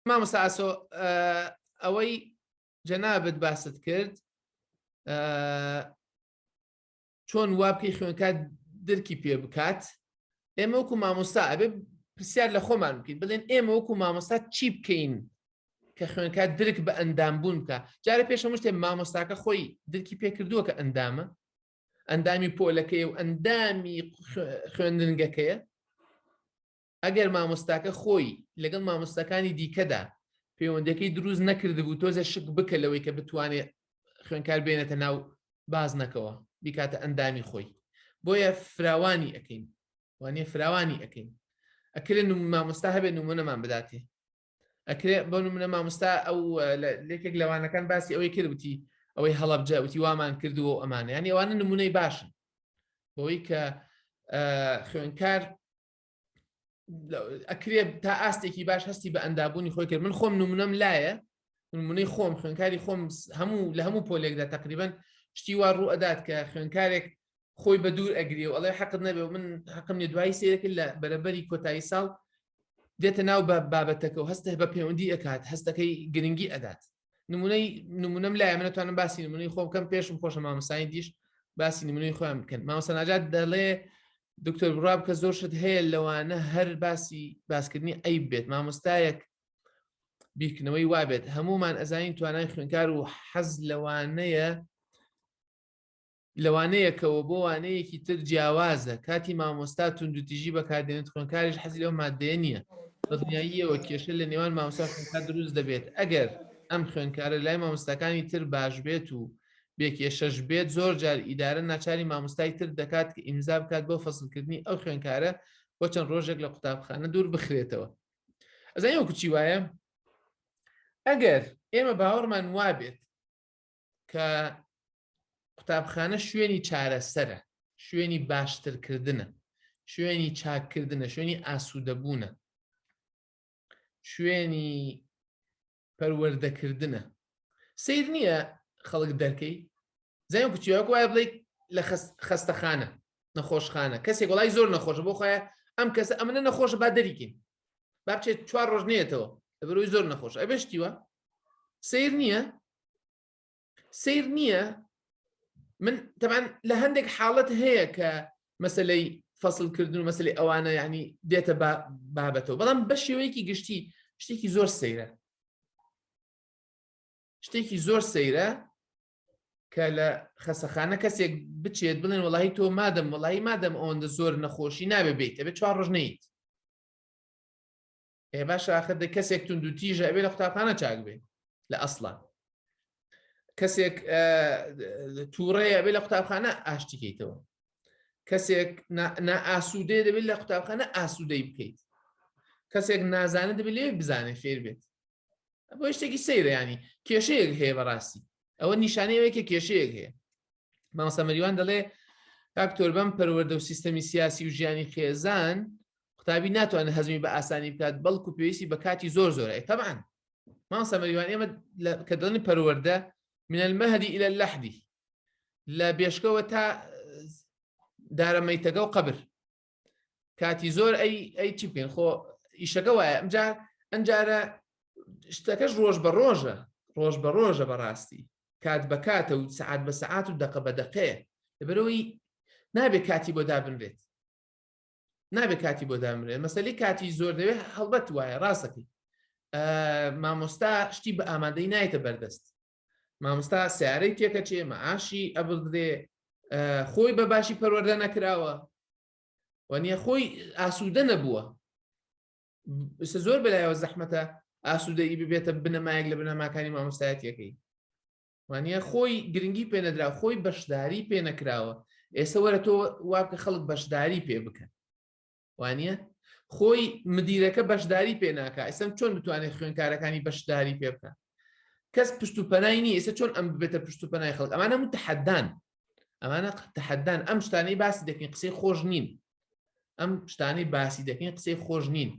مامۆستا ئاسۆ ئەوەی جەنابت باست کرد چۆن وابکەی خوێنکات درکی پێ بکات ئێمە وەکو مامۆستا ئەبێ پرسیار لە خۆمان بکەین بڵێن ئێمە وەکو مامۆستا چی بکەین کە خوێنکات درک بە ئەندام بوون بکە جارە پێشەمە شتێ مامۆستاکە خۆی درکی پێکردووە کە ئەندامە ئەندامی پۆلەکەی و ئەندامی خوێندنگەکەیە ئەگەر مامۆستاکە خۆی لەگەڵ مامۆستاکانی دیکەدا پەیوەندەکەی دروست نەکردبوو تۆزە شک بکە لەوەی کە بتوانێت خوێنکار بێنێتە ناو بازنەکەەوە بیکاتە ئەندامی خۆی بۆیە فراوانی ئەەکەین وانە فراوانی ئەەکەین ئەکرێن مامۆستا هەبێت نمونەمان بداتێ ئەکرێ بۆ نمونە مامۆستا ئەو لێکێک لەوانەکان باسی ئەوەی کردوتی ئەوەی هەڵبجە وتی وامان کردووە و ئەمانە یان ئەوانە نمونەی باشن بۆی کە خوێنکار ئەکرێ تا ئاستێکی باش هەستی بە ئەندابوونی خۆی کرد من خۆم نمونەم لایە نمونەی خۆم خوێنکاری خۆم هەموو لە هەموو پۆلێکدا تقریبن شتی وا ڕوو ئەدات کە خوێنکارێک خۆی بە دوور ئەگری و ئەڵێ حەقت نەبێ و من حەقم لێ دوایی سێرەکە لە بەرەبەری کۆتایی ساڵ دێتە ناو بە بابەتەکە و هەستە بە پەیوەندی ئەکات هەستەکەی گرنگی ئەدات نمونەی نمونەم لای منەتوانم باسی نمونەی خۆم کەم پێشم خۆشە مامەسانی دیش باسی نمونەی خۆیان بکەن مامەسەناجات دەڵێ دکتۆر بڕاب کە زۆر شت هەیە لەوانە هەر باسی باسکردنی ئەی بێت مامۆستایەک بیرکردنەوەی وابێت هەمومان ئەزانین توانای خوێنکار و حەز لەوانەیە لە وانەیەکەوە بۆ وانەیەکی تر جیاوازە کاتی مامۆستا توندوتیژی بەکاردێنێت خوێنکاریش حەزی لەو مادەیە نییە بە دنیاییەوە کێشە لە نێوان مامۆستا خوێنکار دروست دەبێت ئەگەر ئەم خوێنکارە لای مامۆستاکانی تر باش بێت و بێکێشەش بێت زۆر جار ئیدارە ناچاری مامۆستای تر دەکات کە ئیمزا بکات بۆ فەسلکردنی ئەو خوێنکارە بۆ چەند ڕۆژێک لە قوتابخانە دوور بخرێتەوە ئەزای وەکوچی وایە ئەگەر ئێمە باوەڕمان وابێت کە قوتابخانە شوێنی چارەسەرە شوێنی باشترکردنە شوێنی چاککردنە شوێنی ئاسوودەبوونە شوێنی پەروەردەکردنە سیر نییە خەڵک دەرکەی زای کوچیوەک وایە بڵێ لە خەستەخانە نەخۆشخانە کەسێک وڵای زۆر نەخۆش بۆ خۆە ئەم کەسە ئەمنە نەخۆش با دەریکین با بچێت چوار ڕۆژ نێتەوە لەبەرۆی زۆر نەخۆش ئەبشتیوە سیر نییە سیر نییە من تەمان لە هەندێک حاڵەت هەیە کە مەسلەی فەسلکردن و مەسلی ئەوانە ینی دێتە بابەتەوە بەڵام بە شێوەیەکی گشتی شتێکی زۆر سەیرە شتێکی زۆر سەیرە کە لە خەسەخانە کەسێک بچێت بڵێن وڵی تۆ مادەم وڵی مادەم ئەوەندە زۆر نەخۆشی نابێ بیت ئەبێ چوار ڕژنیت ئێ باش ئاخر دە کەسێک تونند و تیژە ئەبێ لە قوتابخانە چاک بێ لە ئەسڵان کەسێک تووڕەیە بێ لە قوتابخانە ئاشتیکەیتەوە کەسێک ئاسوودێ دەبێت لە قوتابخانە ئاسوودەی بکەیت کەسێک نازانە دەبێت لێ بزانێ فێر بێت بۆ شتێکی سەیرەیانی کێشەیەک هەیە بەڕاستی ئەوە نیشانەیەوەیکە کێشەیەک هەیە مامۆستا مەریوان دەڵێ دکتۆر بەم پەروەردە و سیستەمی سیاسی و ژیانی خێزان قوتابی ناتوانێت هەزمی بە ئاسانی بکات بەڵکو پێویستی بە کاتی زۆر زۆرە تەبان مامۆستا مەریوان ئێمە کە دڵنی پەروەردە من المەهدی ئیلە لەحدی لە بێشکەوە تا دارەمەیتەگە و قبر کاتی زۆر ئەی ئەی چی بکەین خۆ ئیشەکە وایە ئەمجا ئەمجارە شتەکەش ڕۆژ بە ڕۆژە ڕۆژ بە ڕۆژە بەڕاستی کات بە کاتە و سعات بە سعات و دەقە بە دەقێ لەبەرەوەی نابێ کاتی بۆ دابنرێت نابێ کاتی بۆ دامرێت مەسلی کاتی زۆر دەوێت هەڵبەت وایە ڕاستەکەی مامۆستا شتی بە ئامادەی نایتە بەردەست مامۆستا سیارەی تێکەچێ مەعاشی ئەبدرێ خۆی بە باشی پەروەەردە نەکراوە وەنیە خۆی ئاسوودە نەبووە زۆر بەلایەوە زەحمەتە ئاسوودەی ببێتە بنەمایەک لە بنەماکانی مامۆستایەتەکەی وانە خۆی گرنگی پێنەدرا خۆی بەشداری پێنەکراوە ئێستا وەرە تۆ وابکە خەڵک بەشداری پێ بکەن وانە خۆی مدیرەکە بەشداری پێ ناکە ئێسم چۆن بتوانێت خوێنکارەکانی بەشداری پێ بکە کەس پشت و پەنای نیە ئێستا چۆن ئەم ببێتە پشت و پەنای خەڵک ئەمانە من تحدان ئەمانە تحدان ئەم شتانەی باسی دەکەین قسەی خۆش نین ئەم شتانەی باسی دەکەین قسەی خۆش نین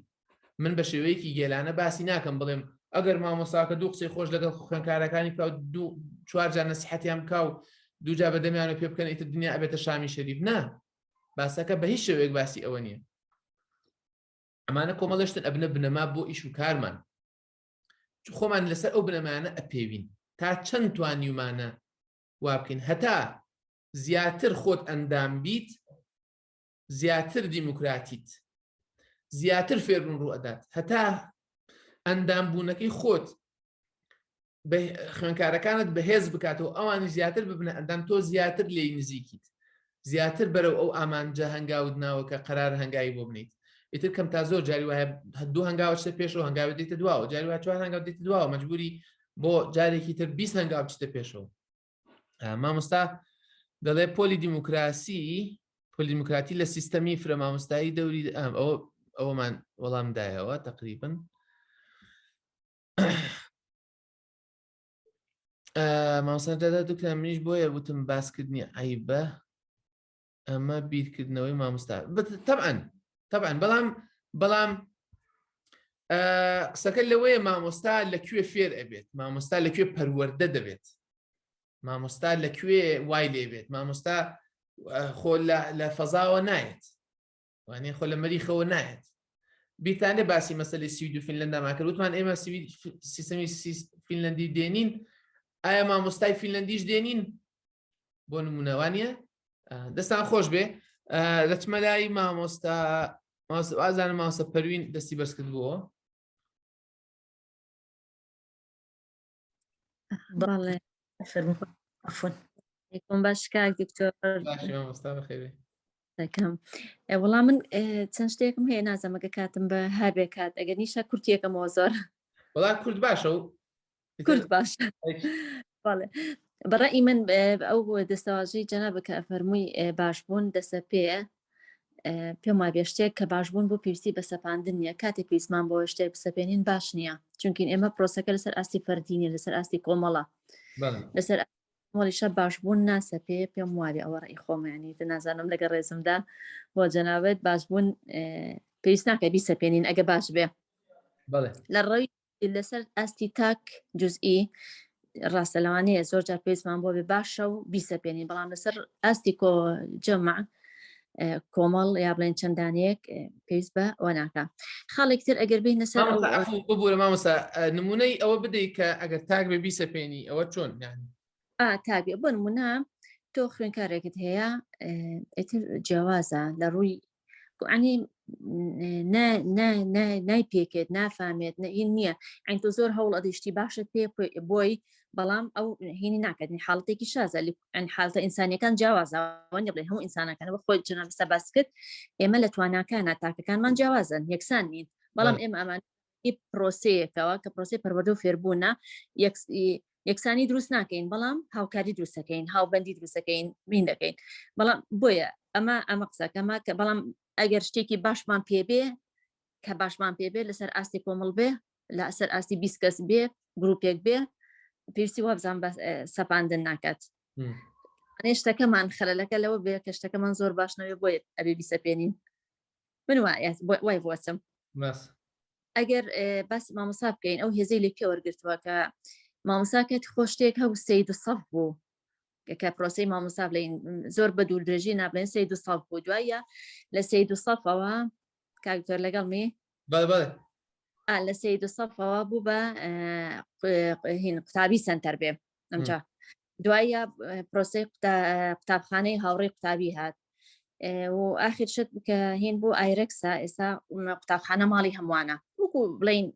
من بە شێوەیەکی گێلانە باسی ناکەم بڵێم ئەگەر مامۆساکە دوو قسەی خۆش لەگەڵ خوێنکارەکانی کا دوو چوارجان نسیحەتیان کا و دوجا بەدەمیانە پێ بکەن ئیتر دنیا ئەبێتە شامی شەریف نا باسەکە بە هیچ شێوەیەک باسی ئەوە نییە ئەمانە کۆمەڵشتن ئەبنە بنەما بۆ ئیش و کارمان خۆمان لەسەر ئەو بنەمانە ئەپێوین تا چەند توانیومانە وا بکەین هەتا زیاتر خۆت ئەندام بیت زیاتر دیموکراتیت زیاتر فێربوون ڕوو ئەدات هەتا ئەندام بوونەکەی خۆت خوێنکارەکانت بەهێز بکاتەوە ئەوانی زیاتر ببنە ئەندام تۆ زیاتر لێی نزیکیت زیاتر بەرەو ئەو ئامانجە هەنگاوت ناوە کە قەرار هەنگاوی بۆ بنیت ئیتر کەم تا زۆر جاری وایە هەدوو هەنگاوچتە پێشەوە هەنگاوی دیتە دواوە جاری وچوار هەنگاو دیتە دواوە مەجبوری بۆ جارێکی تر بیست هەنگاو بچتە پێشەوە مامۆستا دەڵێ پۆلی دیموکراسی پۆلی دیموکراتی لە سیستەمی فرە مامۆستایی دەوری ئەوە ئەوەمان وەڵام دایەوە تقریبن مامۆستا دەدا دوکە منیش بۆیە وتم باسکردنی عیبە ئەمە بیرکردنەوەی مامستا تەعاان تەعاان بەڵام بەڵام قسەکە لەوەیە مامۆستا لەکوێ فێر ئەبێت مامۆستا لەکوێ پەروەەردە دەبێت مامۆستا لەکوێ وای لێبێت مامۆستا خۆ لە فەزاوە نایەت وانێ خۆ لە مەریخەوە نایەت بیرتانێ باسی مەسلی سوید و فیلەن ناماکرد وتمان ئێمە سیستمی فیلەندی دێنین ئایا مامۆستای فیلەندیش دێنین بۆ نمونەوانە دەستان خۆش بێ دەچمە لای مامۆستا ئازانە ماوسە پەروین دەستی بەرز کردبووە بەڵێ فەرمخۆن یکم باش کاک دکتۆر دەکەم وەڵام من چەند شتێکم هەیە نازەمەگە کاتم بە هەبێ کات ئەگەر نیشە کورتێکەکەمەوە زۆر وڵا کورد باشە و کورد باش بەڵێ بەڕی من ئەو دەستەواژەی جەنابە کە فەرمووی باش بوون دەسە پێە پێم وا بێشتێک کە باش بوون بۆ پێویستی بە سەپاندن نیە کاتێک پێیسمان بۆ شتێک بسەپێنین باش نییە چونکین ئێمە پرۆسەکە لەسەر ئاستی فەردینە لەسەر ئاستی کۆمەڵە لەسەر مۆلیشە باش بوون ناسە پێ پێم وابێ ئەوە ڕێی خۆمەیانی نازانم لەگە ڕێزمدا بۆ جەناوێت باش بوون پێویست ناکە بیسەپێنین ئەگە باش بێ لە ڕەوی لەسەر ئاستی تاک جزئی ڕاستە لەوانەیە زۆر جار پێزمان بۆ بێ باشە و بیسەپێنین بەڵام لەسەر ئاستی کۆ جەمع کۆمەڵ یا بڵێن چەندانەیەک پێویست بە وەناکە خاڵێک تر ئەگەر بین لەسەر ببوورە مامەسا نمونەی ئەوە بدەیت کە ئەگەر تاک بێ بیسەپێنی ئەوە چۆن نانی تابێ بۆ نمونە تۆ خوێنکارێکت هەیە ئیتر جیاوازە لە ڕووی عنی نای پێکێت نافامێت نەین نییە ئەین تۆ زۆر هەوڵ ئەدیشتی باشت پێ بۆی بەڵام ئەو هینی ناکردنی حاڵتێکی شازە ئەن حالتە ئینسانەکان جیاوازەوەنی بڵێ هەموو ئینسانەکان بە خۆی جنەستا باس کرد ئێمە لە تواناکانە تاکەکانمان جیاوازن یەکسان نین بەڵام ئێمە ئەمان پرۆسەیەکەوە کە پرۆسی پەروەردە و فێربوونە یەکسانی دروست ناکەین بەڵام هاوکاری دروستەکەین هاوبندی دروستەکەین مین دەکەین بەڵام بۆیە ئەمە ئەمە قسەکەمە کە بەڵام ئەگەر شتێکی باشمان پێبێ کە باشمان پێبێ لەسەر ئاستی کۆمەڵ بێ لە ئەسەر ئاستی بیست کەس بێ گرروپێک بێ پێویستی وابزان بە سەپاندن ناکات شتەکەمان خەلەکە لەوە بێ کە شتەکەمان زۆر باشنەوێ بۆیە ئەبێ بیسەپێنین من وای بۆچم ئەگەر باسی مامۆسا بکەین ئەو هێزەی لە پێ وەرگتووە کە مامۆساکەت خۆشتێک هەو سەی دو سەف بوو کە پرۆسی مامۆسا بڵین زۆر بە دوور درێژی نابلێن سەی دو سەف بوو دوایە لە سەی دو سەفەوە کاکتۆر لەگەڵ می لە سەی دو سەفەوە بوو بە هین قوتابی سنتەر بێ ئەمجا دوایە پرۆسی قوتابخانەی هاوڕێی قوتابی هات و ئاخر شت کە هین بۆ ئایرەکسا ئێستا قوتابخانە ماڵی هەمووانە وەکو بڵین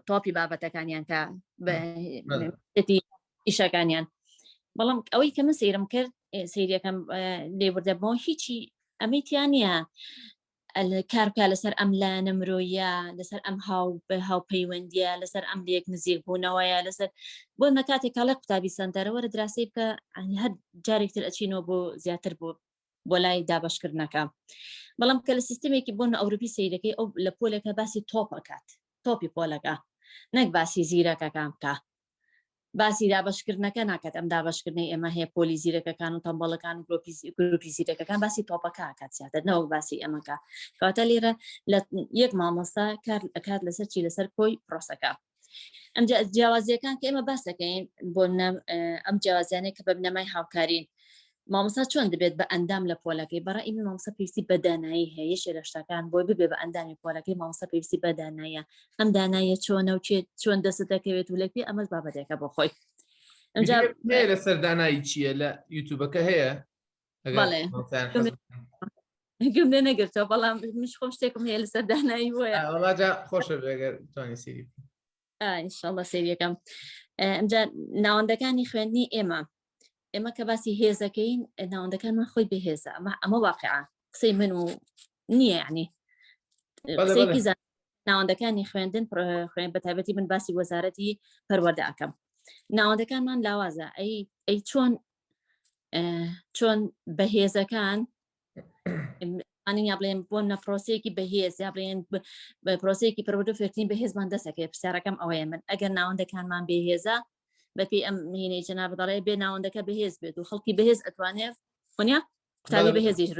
تۆپی بابەتەکانیان کە ئیشەکانیان بەڵام ئەوەی کە من سیرم کرد سیرەکەم لێبوردەبەوە هیچی ئەمەی تیانە کار بکە لەسەر ئەم لایەنە مرۆیە لەسەر ئەم هاو بە هاوپەیوەندیە لەسەر ئەم لەک نزیک بوونەوەیە لەسەر بۆ مە کاتێک کاڵێ قوتابی سندەرەوە لە دراسی بکە ئەنی هەر جارێکتر ئەچینەوە بۆ زیاتر بۆ بۆ لای دابشکردنەکە بەڵام کە لە سیستمێکی بۆن ئەوروپی سیرەکەی ئەو لە پۆلەکە باسی تۆپەکات تۆپی پۆلەکە نەک باسی زیرەکەکان بکە باسی دابەشکردنەکە ناکات ئەم دابەشکردنەی ئێمە هەیە پۆلی زیرەکەکان و تەمبەڵەکان و گروپی زیرەکەکان باسی تۆپەکە کات زیاتر نەوەک باسی ئەمەکە کەواتە لێرە لە یەک مامۆستا کار ئەکات لەسەر چی لەسەر کۆی پرۆسەکە ئەم جیاوازیەکان کە ئێمە باسەکەین بۆ ئەم جیاوازیانە کە بە بنەمای هاوکارین مامۆستا چۆن دەبێت بە ئەندام لە پۆلەکەی بەڕە ئیمە مامۆستا پێویستی بە دانایی هەیە یەکێ لە شتەکان بۆی ببێ بە ئەندامی پۆلەکەی مامۆستا پێویستی بە دانایە ئەم دانایە چۆنە و چێت چۆن دەست دەکەوێت و لە پێ ئەمەش بابەتێکە بۆ خۆی لە سەردانایی چییە لە یوتوبەکە هەیە گم لێ نەگرتەوە بەڵام مش خۆم شتێکم هەیە لە سەردانایی وایە خۆشە بێگەر توانی سری ئینشاءاللە سێریەکەم ئەمجا ناوەندەکانی خوێندنی ئێمە ئێمە کە باسی هێزەکەین ناوەندەکانمان خۆی بەهێزە ئەمە ئەمە واقع قسەی من و نییە ینی قسەیەکی زان ناوەندەکانی خوێندن خوێن بە تایبەتی من باسی وەزارەتی پەروەدە ئەەکەم ناوەندەکانمان لاوازە ئەی ئەی چۆن چۆن بەهێزەکان ئەنین یا بڵێن بۆ نە پرۆسەیەکی بەهێز یا بڵێن پرۆسەیەکی پرۆدو فێرتین بە هێزمان دەسەکەێت پرسیارەکەم ئەوەیە من ئەگەر ناوەندەکانمان بێهێزە بەپی ئەم مینەی جنا بدەڵێ بێ ناوەندەکە بەهێز بێت و خەڵکی بەهێز ئەتوانێت خۆنیا قوتابی بەهێزیش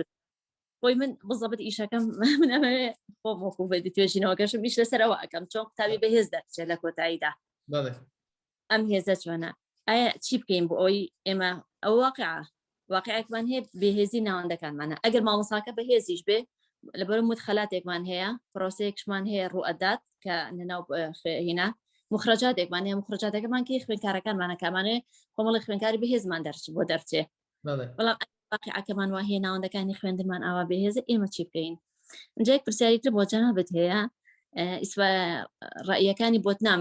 خۆی من بزەبت ئیشەکەم من ئەمەوێ خۆ مۆکو بە توێژینەوەکەشم میش لەسەرەوە ئەەکەم چۆن قوتابی بەهێز دەچێت لە کۆتاییدا ئەم هێزە چۆنە ئایا چی بکەین بۆ ئەوی ئێمە ئەو واقع واقعێکمان هەیە بێهێزی ناوەندەکانمانە ئەگەر مامۆساکە بەهێزیش بێ لەبەر مت خەلاتێکمان هەیە پرۆسەیەکشمان هەیە ڕوئەدات کە نەناو هینا مخرجاتێکمان هەیە مخرجاتەکەمان کە خوێنکارەکانمانە کامانێ کۆمەڵی خوێنکاری بەهێزمان دەرچ بۆ دەرچێ بەڵام واقعەکەمان وا هەیە ناوەندەکانی خوێندمان ئاوا بەهێزە ئێمە چی بکەین جێک پرسیاریتر بۆ جەنابەت هەیە ڕایەکانی بۆت نام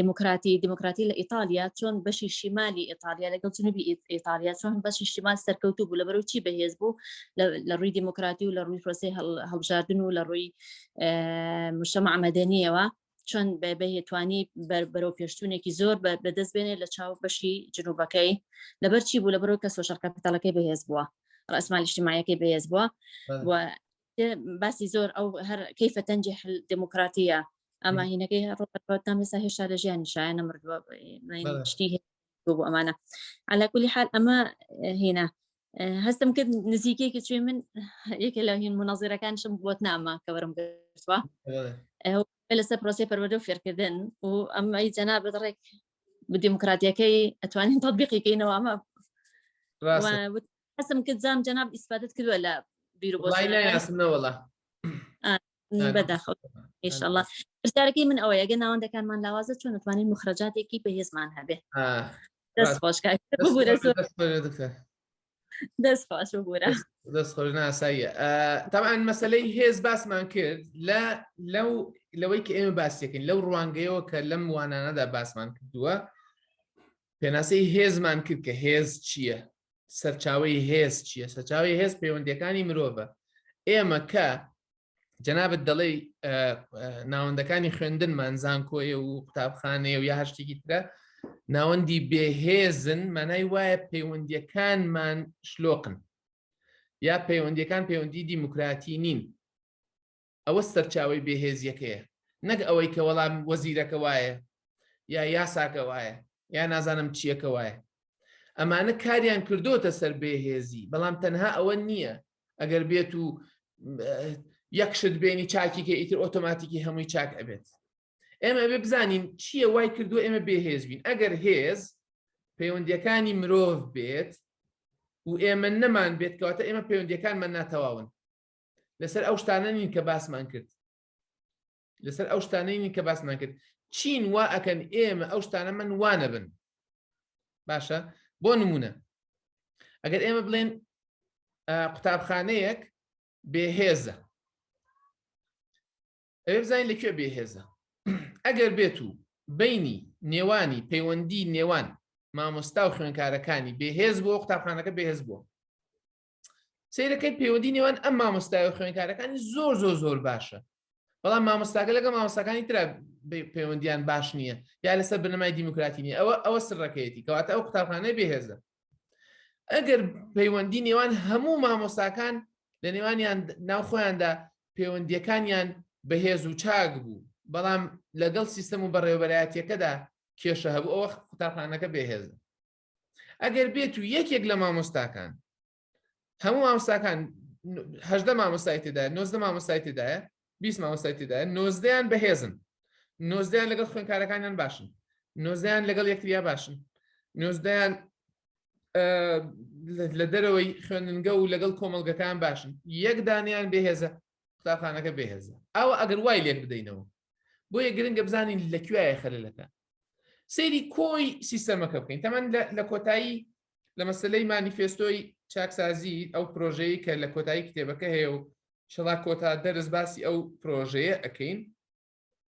دموکراتی دموکراتی لە ئیتالیا چۆن بەشی شیمالی ئیتالیا لەگەڵ جنوبی ئیتالیا چۆن بەشی شیمال سەرکەوتو بوو لە بەرەو چی بەهێز بوو لە ڕووی دموکراتی و لە ڕووی پرۆسی هەڵبژاردن و لە ڕووی مشەمە ئەمەدەنیەوە چۆن بەهێتوانی بەرەو پێشتونێکی زۆر بەدەست بێنێ لە چاو بەشی جنوبەکەی لەبەر چی بوو لە بەرەو کە سۆشەکە پتەڵەکەی بەهێز بووە ڕسممالیشتیمایەکەی بەهێز بووە باسی زۆر ئەو هەر کەیفە تەنجی حل دموکراتیە ئەما هینەکەی ڕۆتان لەسا هێشتا لە ژیان شایە نەمردووە شتی بۆ ئەمانە علاکولی حال ئەمە هینا هەستم کرد نزیکێکی چێ من یەکە لە هین مناظرەکانشم بۆت نامە کە بەرم گرتوە لەسەر پرۆسی پەروەدە و فێرکردن و ئەم ئەی جەنا بەدڕێک بدیموکراتیەکەی ئەتوانین تطببیقیکەینەوە ئەمە حەسم کرد زام جەناب ئیسفادت کردووە لە بیرو بۆ وڵای نایاسم نەوەڵا بەداخەوە ئێشەڵا پرسیارەکەی من ئەوەیە گە ناوەندەکانمان لاوازە چۆن نتوانین مخرەجاتێکی بەهێزمان هەبێ دەست خۆشکە ببورە دەست خۆش ببورە دەست خۆش ناساییە تاوان مەسلەی هێز باسمان کرد لە لەو لەوەی کە ئێمە باسیەکەین لەو ڕوانگەیەوە کە لەم وانانەدا باسمان کردووە پێناسەی هێزمان کرد کە هێز چییە سەرچاوەی هێز چییە سەرچاوی هێز پەیوەندەکانی مرۆڤە ئێمە کە جەنابەت دەڵێ ناوەندەکانی خوێندنمان زانکۆیە و قوتابخانەیە و یا هەشتێکی ترە ناوەندی بێهێزن مانای وایە پەیوەندیەکانمان شلۆقن یا پەیوەندیەکان پەیوەندی دیموکراتی نین ئەوە سەرچاوەی بێهێزیەکەیە نەک ئەوەی کە وەڵام وەزیرەکە وایە یا یاساکە وایە یا نازانم چیەکە وایە ئەمانە کاریان کردوتە سەر بێهێزی بەڵام تەنها ئەوە نییە ئەگەر بێت و یەکشت بێنی چاکی کە ئیتر ئۆتۆماتیکی هەمووی چاک ئەبێت ئێمە بێ بزانین چییە وای کردو ئێمە بێهێز بین ئەگەر هێز پەیوەندیەکانی مرۆڤ بێت و ئێمە نەمان بێت کەواتە ئێمە پەیوەندەکانمان ناتەواون لەسەر ئەو شتانە نین کە باسمان کرد لەسەر ئەو شتانەی نین کە باسمان کرد چین وا ئەکەن ئێمە ئەو شتانە من وانە بن باشە بۆ نمونە ئەگەر ئێمە بڵێن قوتابخانەیەک بێهێزە ئەوێ بزانین لەکوێ بێهێزە ئەگەر بێت و بینی نێوانی پەیوەندی نێوان مامۆستا و خوێنکارەکانی بێهێز بۆ قوتابخانەکە بێهێز بووە سیرەکەی پەیوەندی نێوان ئەم مامۆستای و خوێنکارەکانی زۆر زۆر زۆر باشە بەڵام مامۆستاگە لەگە مامۆستاکانی تررا پەیوەندیان باش نییە یا لەسەر بنەمای دیموکراتی نیە ئەوە ئەوە سڕەکەیەتی کەواتە ئەو قوتابخانە بێهێزە ئەگەر پەیوەندی نێوان هەموو مامۆستاکان لە نێوانیان ناو خۆیاندا پەیوەندیەکانیان بەهێز و چاک بوو بەڵام لەگەڵ سیستم و بەڕێوەبەرایەتەکەدا کێشە هەبوو ئەوە قوتابخانەکە بێهێزە ئەگەر بێت و یەکێک لە مامۆستاکان هەموو مامۆستاکان هەدە مامۆستای تێدا نۆزدە مامۆستای تێدایە بیست مامۆستای تێدا نۆزدەیان بەهێزن نۆزدەیان لەگەڵ خوێنکارەکانیان باشن نۆزدەیان لەگەڵ یەکتریا باشن نۆزدەیان لە دەرەوەی خوێندنگە و لەگەڵ کۆمەلگەکان باشن یەک دانیان بێهێزە قوتابخانەکە بێهێزە ئەوە ئەگەر وای لێک بدەینەوە بۆیە گرنگە بزانین لە کوایە خەلەکە سەیری کۆی سیستەمەکە بکەین تەمەەن لە کۆتایی لە مەسلەی مانیفێستۆی چاکسازی ئەو پرۆژەیە کە لە کۆتایی کتێبەکە هەیە و شڵا کۆتا دەرز باسی ئەو پرۆژەیە ئەەکەین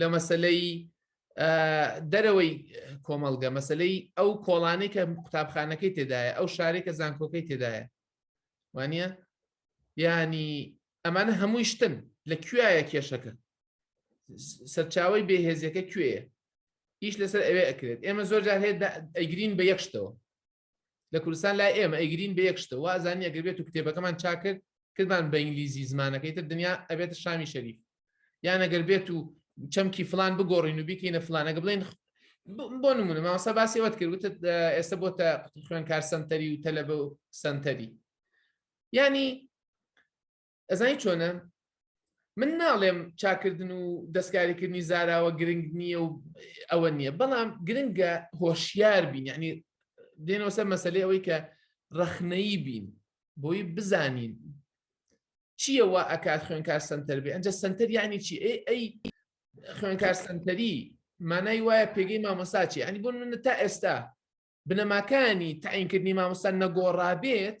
لە مەسلەی دەرەوەی کۆمەڵگە مەسلەی ئەو کۆڵانەی کە قوتابخانەکەی تێدایە ئەو شارێک کە زانکۆکەی تێدایە وانە ینی ئەمانە هەمووی شتن لە کوایە کێشەکە سەرچاوی بێهێزیەکە کوێە ئیش لەسەر ئەوێ ئەکرێت ئێمە زۆر جار هەیە ئەگرین بە یەکشتەوە لە کوردستان لای ئێمە ئەیگرین بە یەک شتە وازانی ئەگەر بێت و کتێبەکەمان چاکرد کردمان بە ئینگلیزی زمانەکەی تر دنیا ئەبێتە شامی شەریف یان ئەگەر بێت و چەمکی فلان بگۆڕین و بیکەینە فلانەگە بڵێن بۆ نمونە ماوەسا باسی ئەوەت کرد وتت ئێستا بۆ تا خوێنکار سنتەری و تەلەبە و سنتەری ینی ئەزانی چۆنە من ناڵێم چاکردن و دەستکاریکردنی زاراوە گرنگ نییە و ئەوە نییە بەڵام گرنگە هۆشیار بین یعنی دێنەوە سەر مەسلەی ئەوەی کە ڕەخنەی بین بۆی بزانین چییە وا ئەکات خوێنکار سنتەر بێ ئەجا سنتەر یعنی چی ئەی ئەی خوێنکار سنتەری مانای وایە پێگەی مامۆساچی ئەنی بوون من تا ئێستا بنەماکانی تاینکردنی مامۆستا نەگۆڕابێت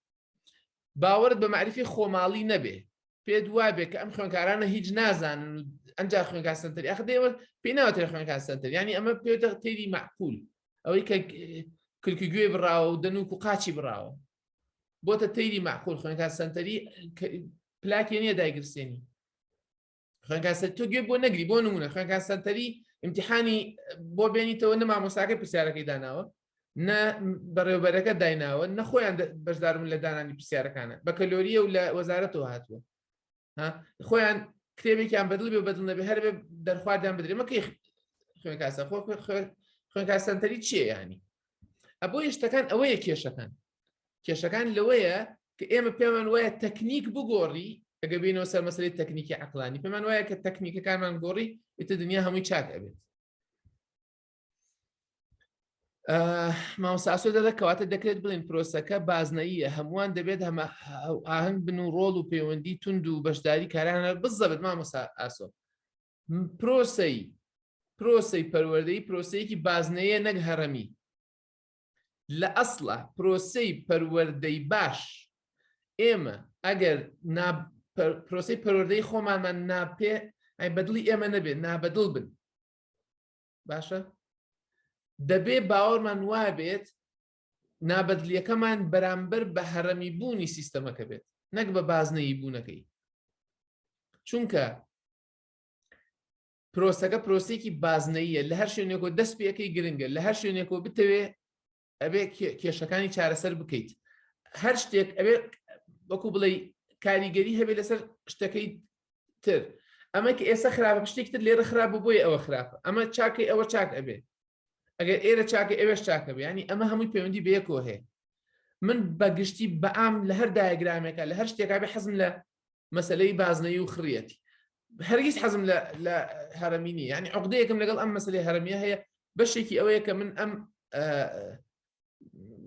باوەرت بە مەعریفی خۆماڵی نەبێ پێت وابێ کە ئەم خوێنکارانە هیچ نازانن ئەمجا خوێنکار سنتەر یاخ دێوە پێی ناوترێ خوێنکار سنتەر ینی ئەمە پێوتە تێری معقول ئەوەی کە کلکی گوێ بڕاوە و دەنوک و قاچی بڕاوە بۆتە تێری معقول خوێنکار سنتەری پلاکی نییە دایگرسێنی خەنکاسەر تۆ گوێ بۆ نەگری بۆ نمونە خەنکاسەنتەری امتحانی بۆ بێنیتەوە نە مامۆساکە پرسیارەکەی داناوە نە بەڕێوبەرەکە دایناوە نەخۆیان بەشداربوون لە دانانی پرسیارەکانە بە کەلۆریە و لە وەزارەتەوە هاتووە خۆیان کتێبێکیان بەدڵ بێ بەدڵ نەبێ هەر بێ دەرخواردیان بدرێمە کەی خوێنکاسە خۆ خوێنکاسەنتەری چیە ینی ئەبوو یشتەکان ئەوەیە کێشەکان کێشەکان لەوەیە کە ئێمە پێمان وایە تەکنیک بگۆڕی ئەگە بینەوە سەر مەسەری تەکنیکی عقلانی پێمان وایە کە تەکنیکەکانمان گۆڕی ئیتە دنیا هەمووی چاک ئەبێت ماوساسۆ دەدا کەواتە دەکرێت بڵین پرۆسەکە بازنەیە هەمووان دەبێت هەمە ئاهنگ بن و ڕۆڵ و پەیوەندی تونند و بەشداری کارانە بزەبێت مامۆسا ئاسۆ پرۆسی پرۆسی پەروەردەی پرۆسەیەکی بازنەیە نەک هەرەمی لە ئەسڵا پرۆسەی پەروەردەی باش ئێمە ئەگەر پرۆسی پەروەردەی خۆمانمان ناپێ ئەی بەدڵی ئێمە نەبێ نابەدڵ بن باشە دەبێ باوەڕمان وابێت نابەدلیەکەمان بەرامبەر بە هەرەمی بوونی سیستەمەکە بێت نەک بە بازنەی بوونەکەی چونکە پرۆسەکە پرۆسێکی بازنەیە لە هەر شوێنێکۆ دەست پێەکەی گرنگە لە هەر شوێنێکۆ بتەوێ ئەبێ کێشەکانی چارەسەر بکەیت هەر شتێک ئەبێ وەکو بڵێ کاریگەری هەبێت لەسەر شتەکەی تر ئەمە کە ئێستا خراپە شتێکی تر لێرە خراپ بۆی ئەوە خراپە ئەمە چاکەی ئەوە چاک ئەبێ ئەگەر ئێرە چاکە ئێوەش چاکە بێنی ئەمە هەمووی پەیوەندی بەیەکۆ هەیە من بەگشتی بەام لە هەر دایگرامێکە لە هەر شتێکا بێ حەزم لە مەسلەی بازنەی و خڕەتی هەرگیز حەزم لە هەرمی نیە ینی عقدەیەکم لەگەڵ ئەم مەسلەی هەرمیە هەیە بەشێکی ئەوەیە کە من ئەم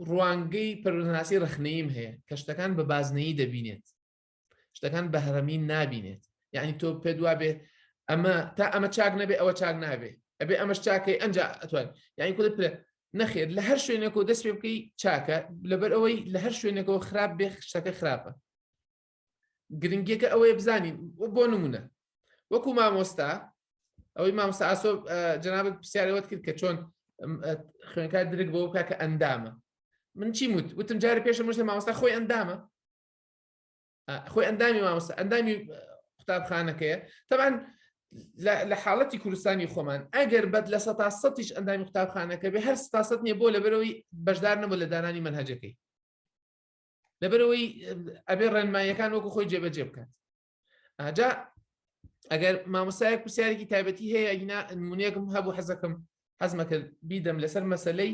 ڕوانگەی پەرناسی ڕخنەیم هەیە کە شتەکان بە بازنەی دەبینێت شتەکان بە هەرمی نابینێت یعنی تۆ پێ دوا بێ ئەمە تا ئەمە چاک نەبێ ئەوە چاک نابێ ئەبێ ئەمەش چاکەی ئەنج ئەتوان یعنی کولت پێ نەخێت لە هەر شوێنێک و دەست پێ بکەی چاکە لەبەر ئەوەی لە هەر شوێنێکەوە خراپ بێ شتەکە خراپە گرنگیەکە ئەوەیە بزانین بۆ نمونە وەکو مامۆستا ئەوەی مامۆستا ئاسۆ جنابەت پرسیارەوەت کرد کە چۆن خوێنکار درک بۆ بکە کە ئەندامە من چی وت وتم جارە پێشە مشتە مامۆستا خۆی ئەندامە خۆی ئەندامی مامۆستا ئەندامی قوتابخانەکەیە تەبان لە حاڵەتی کوردستانی خۆمان ئەگەر بەد لە سە سەش ئەندامی قوتابخانەکە بێ هەر سە نیە بۆ لەبەرەوەی بەشدار نەبوو لە دانانی منهجەکەی لەبەرەوەی ئەبێ ڕێنماییەکان وەکو خۆی جێبەجێ بکات ئاجا ئەگەر مامۆسایەک پرسیارێکی تایبەتی هەیە ئەگینا نمونونێکم هەبوو حەزەکەم حەزمەکە بیدەم لەسەر مەسلەی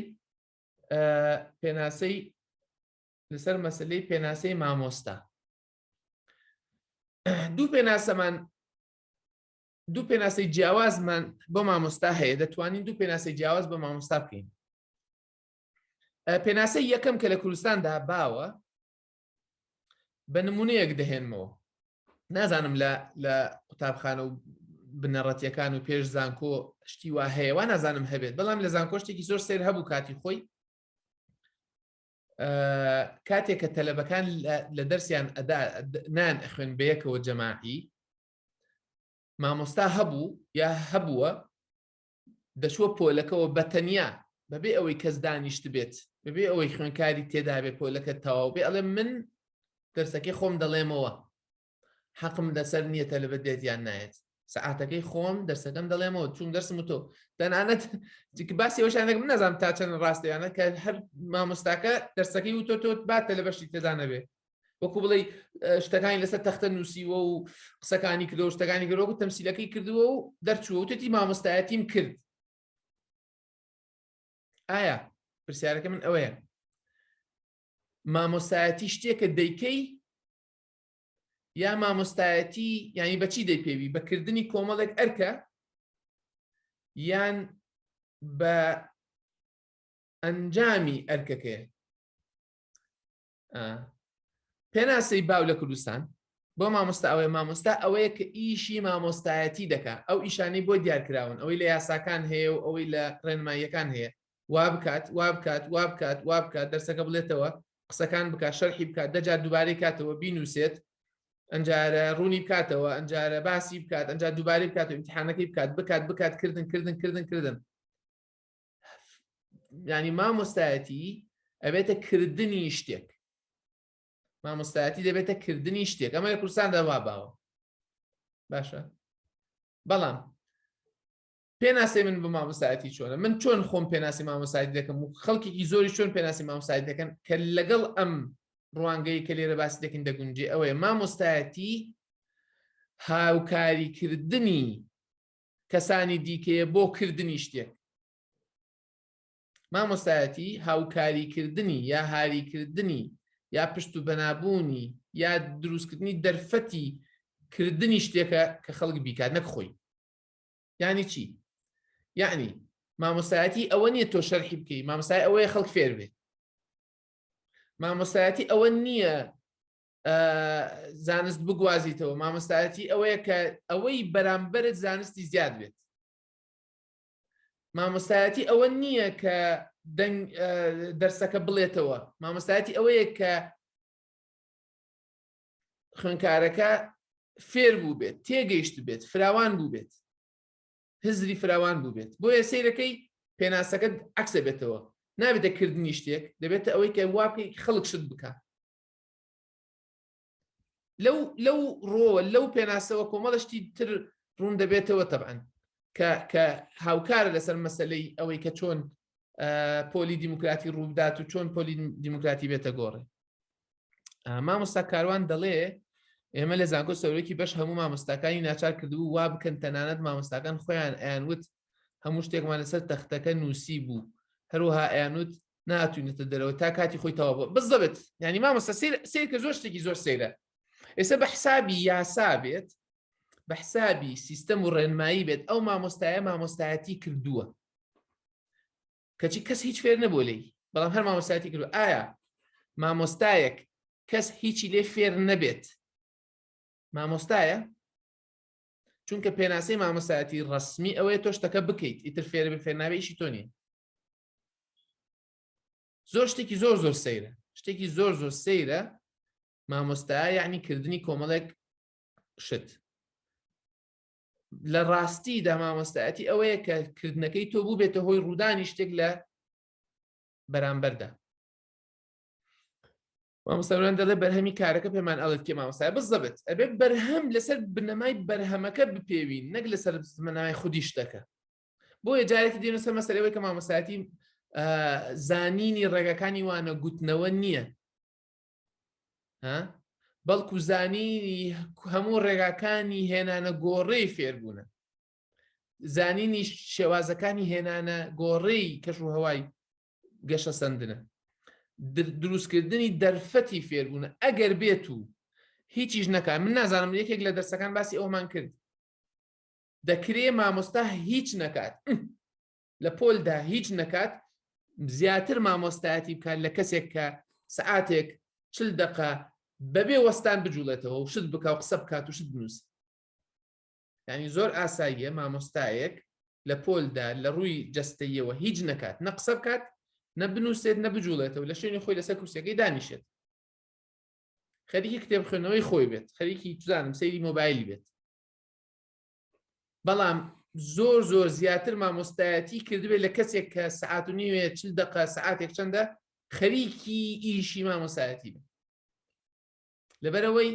پێناسەی لەسەر مەسلەی پێناسەی مامۆستا دوو پێناسەمان دوو پێناسی جیاوازمان بۆ مامۆستا هەیە دەتوانین دوو پێناسی جیاواز بە مامۆستا بکەین پێناسەی یەکەم کە لە کوردستاندا باوە بە نمونەیەک دەهێنمەوە نازانم لە لە قوتابخانە و بنەڕەتیەکان و پێش زانکۆ شتی وا هەیەوە نازانم هەبێت بەڵام لە زانکۆشتێکی زۆر سێر هەبوو کاتی خۆی کاتێک کە تەلەبەکان لە دەرسیان ئەدا نان ئەخوێن بەیەکەوە جەماعی مامۆستا هەبوو یا هەبووە دەچووە پۆلەکەوە بە تەنیا بەبێ ئەوەی کەس دانیشتبێت بەبێ ئەوەی خوێنکاری تێدابێ پۆلەکە تەواو بێ ئەڵێ من دەرسەکەی خۆم دەڵێمەوە حەقم لەسەر نییە تەلبەت دێت یان نایەت سعاتەکەی خۆم دەرسەکەم دەڵێمەوە چون دەرسم تۆ تەنانەت باسی وەشانێک من نەزانام تا چەند ڕاستەیانە کە هەر مامۆستاکە دەرسەکەی و تۆ تۆت باتە لە بەشی تێدانەبێ وەکو بڵێ شتەکانی لەسەر تەختە نووسیوە و قسەکانی کردەوە شتەکانی گەرۆکو تەمسیلەکەی کردووە و دەرچووە و تێتی مامۆستایەتیم کرد ئایا پرسیارەکە من ئەوەیە مامۆستایەتی شتێکە دەیکەی یا مامۆستایەتی ینی بەچی دەیپێوی بەکردنی کۆمەڵێک ئەرکە یان بە ئەنجامی ئەرکەکەی پێناسەی باو لە کوردستان بۆ مامۆستا ئەوەیە مامۆستا ئەوەیە کە ئیشی مامۆستایەتی دەکا ئەو ئیشانەی بۆ دیارکراون ئەوەی لە یاساکان هەیە و ئەوەی لە ڕێنماییەکان هەیە وا بکات وا بکات وا بکات وا بکات دەرسەکە بڵێتەوە قسەکان بکات شەرحی بکات دەجا دووبارەی کاتەوە بینوسێت ئەجارە ڕوونی بکاتەوە ئەجارە باسی بکات ئەجا دووبارەی بکات و امتحانەکەی بکات بکات بکات کردن کردن کردن کردن ینی مامۆستایەتی ئەبێتە کردنی شتێک مامۆستایەتی دەبێتە کردنی شتێک ئەمە کورسان دەوا باوە باشە بەڵام پێناسی من بە مامۆستایەتی چۆنە من چۆن خۆم پێناسی مامۆسایت دەکەم و خەڵکی زۆری چۆن پێناسی مامۆسایت دەکەن کە لەگەڵ ئەم ڕوانگەی کە لێرە باسی دەکەین دەگونجێ ئەوەیە مامۆستایەتی هاوکاریکردنی کەسانی دیکەیە بۆ کردنی شتێک مامۆستایەتی هاوکاریکردنی یا هاریکردنی یا پشت و بەنابوونی یا دروستکردنی دەرفەتی کردنی شتێکە کە خەڵک بیکات نەک خۆی یعنی چی یعنی مامۆستایەتی ئەوە نییە تۆ شەرحی بکەی مامۆستای ئەوەیە خەڵک فێر بێت مامۆستایەتی ئەوە نییە زانست بگوازیتەوە مامۆستایەتی ئەوەیە کە ئەوەی بەرامبەرت زانستی زیاد بێت مامۆستایەتی ئەوە نییە کە دەرسەکە بڵێتەوە مامۆستایەتی ئەوەیە کە خوێنکارەکە فێر بوو بێت تێگەیشت بێت فراوان بوو بێت هزری فراوان بوو بێت بۆیە سیرەکەی پێناسەکە عکسە بێتەوە نابێتە کردنی شتێک دەبێتە ئەوەی کە واکەی خەڵک شت بکە لەو لەو ڕۆوە لەو پێناسەوە کۆمەڵە شتی تر ڕوون دەبێتەوە تەبەن کە هاوکارە لەسەر مەسلەی ئەوەی کە چۆن پۆلی دیموکراتی ڕوودات و چۆن پۆلی دیموکراتی بێتە گۆڕێ مامۆستا کاروان دەڵێ ئێمە لە زانکۆ سەرۆکی بەش هەموو مامۆستاکانی ناچار کردبوو وا بکەن تەنانەت مامۆستاکان خۆیان ئەیان وت هەموو شتێکمان لەسەر تەختەکە نووسی بوو هەروها ئەیانوت ناتوینێتە دەرەوە تا کاتی خۆی تەوا بووە بزەبێت ینی مامەسە سیر کە زۆر شتێکی زۆر سەیرە ئێستا بە حسابی یاسا بێت بە حسابی سیستەم و ڕێنمایی بێت ئەو مامۆستایە مامۆستایەتی کردووە کەچی کەس هیچ فێر نەبوو لی بەڵام هەر مامۆستایەتی کردو ئایا مامۆستایەک کەس هیچی لێ فێر نەبێت مامۆستایە چونکە پێناسەی مامۆستایەتی ڕسمی ئەوەیە تۆشتەکە بکەیت ئیتر فێرە بە فێرناوێشی تۆنی زۆر شتێکی زۆر زۆر سەیرە شتێکی زۆر زۆر سەیرە مامۆستا یعنی کردنی کۆمەڵێک شت لە ڕاستی دا مامۆستایەتی ئەوەیە کە کردنەکەی تۆ بوو بێتە هۆی ڕوودانی شتێک لە بەرامبەردا مامۆستاوران دەڵێ بەرهەمی کارەکە پێمان ئەڵێت کێ مامۆستای بزەبێت ئەبێت بەرهەم لەسەر بنەمای بەرهەمەکە بپێوین نەک لەسەر زمنای خودی شتەکە بۆیە جارێکی دێنە سەر مەسەرەوەی کە مامۆساتی زانینی ڕێگەکانی وانە گوتنەوە نییە بەڵکو زانینی هەموو ڕێگاکانی هێنانە گۆڕێی فێربوونە زانینی شێوازەکانی هێنانە گۆڕێی کەش و هەوای گەشە سندنە دروستکردنی دەرفەتی فێربوونە ئەگەر بێت و هیچیش نەکە من نازانم یەکێک لە دەرسەکان باسی ئەومان کرد دەکرێ مامۆستا هیچ نەکات لە پۆلدا هیچ نەکات زیاتر مامۆستایەتی بکات لە کەسێک کە سعاتێک چل دقە بەبێ وەستان بجوڵێتەوە و شت بکە و قسە بکات و شت بنووس ینی زۆر ئاساییە مامۆستایەک لە پۆلدا لە ڕووی جستەیەوە هیچ نەکات نە قسە بکات نە بنووسێت نە بجوڵێتەوە لە شوێنی خۆی لەسەر کورسەکەی دانیشێت خەریکی کتێب خوێنەوەی خۆی بێت خەریکی توزانم سەیری مۆبایل بێت بەڵام زۆر زۆر زیاتر مامۆستایەتی کردبێت لە کەسێک کە سعات و نیوێ چل دقە سعاتێک چەندە خەریکی ئیشی مامۆسایەتی بێت لەبەرەوەی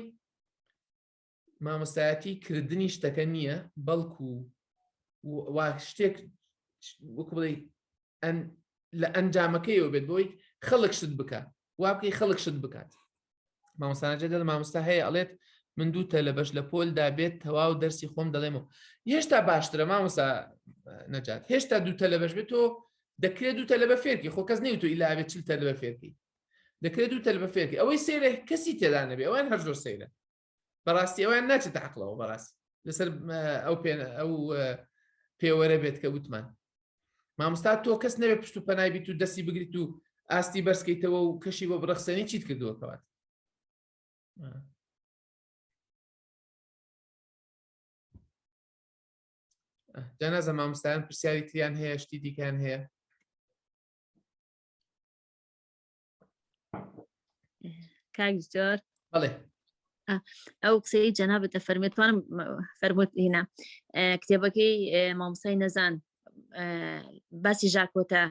مامۆستایەتی کردنی شتەکە نییە بەڵکو وا شتێک وەکو بڵێ لە ئەنجامەکەیەوە بێت بۆی خەڵک شت بکە وا بکەی خەڵک شت بکات مامۆسانەجە دەڵ مامۆستا هەیە ئەڵێت من دوو تە لە بەش لە پۆلدا بێت تەواو دەرسی خۆم دەڵێمەوە هێشتا باشترە مامۆسا نەجات هێشتا دوو تە لە بەش بێت تۆ دەکرێت دوو تە لە بە فێرکی خۆ کەس نیوتو ئیلاێت چل تە لە بە فێرکی دەکرێت دوو تەل بە فێرکی ئەوەی سێرە کەسی تێدا نەبێ ئەوان هەر زۆر سەیرە بەڕاستی ئەویان ناچێت عقلەوە بەڕاست لەسەر ئەو پێێن ئەو پێوەرە بێت کە وتمان مامستا تۆ کەس نەوێ پشت و پەنایبیت و دەستی بگریت و ئاستی بەرزکەیتەوە و کەشی بۆ بڕەخسەنی چیت کردووە کەوات جەنازە مامستان پرسیاری تریان هەیە شتی دیکەیان هەیە کاک زۆر بڵێ ئەو قسەی جەنابەت لە فەرمێتوانم فەرموت هینا کتێبەکەی مامسای نەزان باسی ژاکۆتە